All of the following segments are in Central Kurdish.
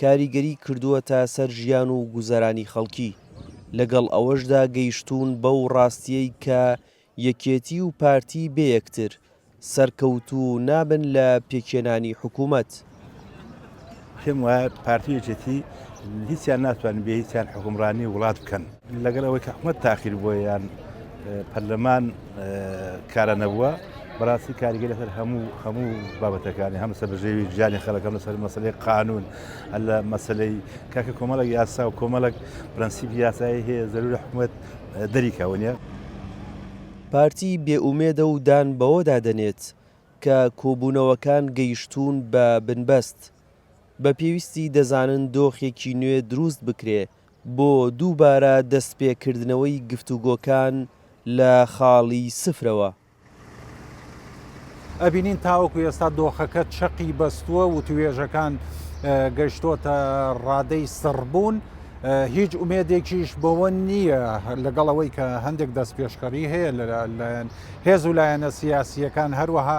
کاریگەری کردووەتە سەر ژیان و گوزەرانی خەڵکی، لەگەڵ ئەوەشدا گەیشتوون بەو ڕاستییەی کە یەکێتی و پارتی بێ یەکتر سەرکەوتوو نابن لە پێکهێنانی حکوومەت. پێم وایە پارتی و یەکێتی هیچیان ناتوانن بێ هیچیان حوکمڕانی وڵات بکەن، لەگەڵ ئەوەی کە حکومەت تاخیر بووە یان پەرلەمان کارا نەبووە بەڕاستی کاریگە لەسەر هەموو هەموو بابەتەکانی هەم سەبژێوی ژیانی خەڵەکەم لەسەر مەسلەی قانون هەر لە مەسلەی کاکە کۆمەڵک یاسا و کۆمەڵک پرەنسیب یاسایی هەیە زەرور حکومت دەریکەونە پارتی بێ ئومێدە و دان بەوەدا دەنێت کە کۆبوونەوەکان گەیشتوون بە بنبەست، بە پێویستی دەزانن دۆخێکی نوێ دروست بکرێ بۆ دووبارە دەستپێکردنەوەی گفتوگۆکان لە خاڵی سفرەوە. ئەبینین تاوەکو ئێستا دۆخەکە چەقی بەستووە وتوێژەکان گەشتۆتە ڕادەی سڕبوون هیچ ئومێدێکیش بەوە نییە لەگەڵ ئەوەی کە هەندێک دەستپێشخەری هەیە لەلایەن هێز و لایەنە سیاسیەکان هەروەها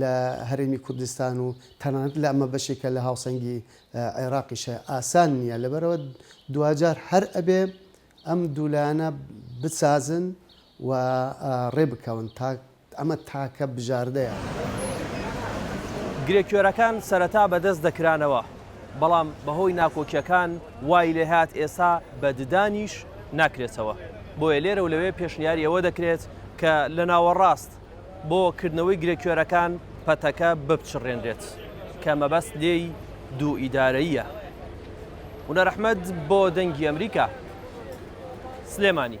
لە هەرێمی کوردستان و تەنانەت لە ئەمە بەشێکە لە هاوسەنگی عێراقیش هەیە ئاسان نییە لەبەرئەوە دواجار هەر ئەبێ ئەم دوو لایەنە بسازن و ڕێ بکەون تا ئەمە تاکە بژاردەیە. گرێکوێرەکان سەرەتا بەدەست دەکرانەوە بەڵام بەهۆی ناکۆکیەکان وای لێهات ئێسا بە ددانیش ناکرێتەوە بۆیە لێرەو لەوێ پێشنیاری ئەوە دەکرێت کە لە ناوەڕاست بۆ کردنەوەی گرێکوێرەکان پەتەکە بپچڕێنرێت کە مەبەست لێی دوو ئیدارەیە ونەرەحمەد بۆ دەنگی ئەمریکا سلێمانی.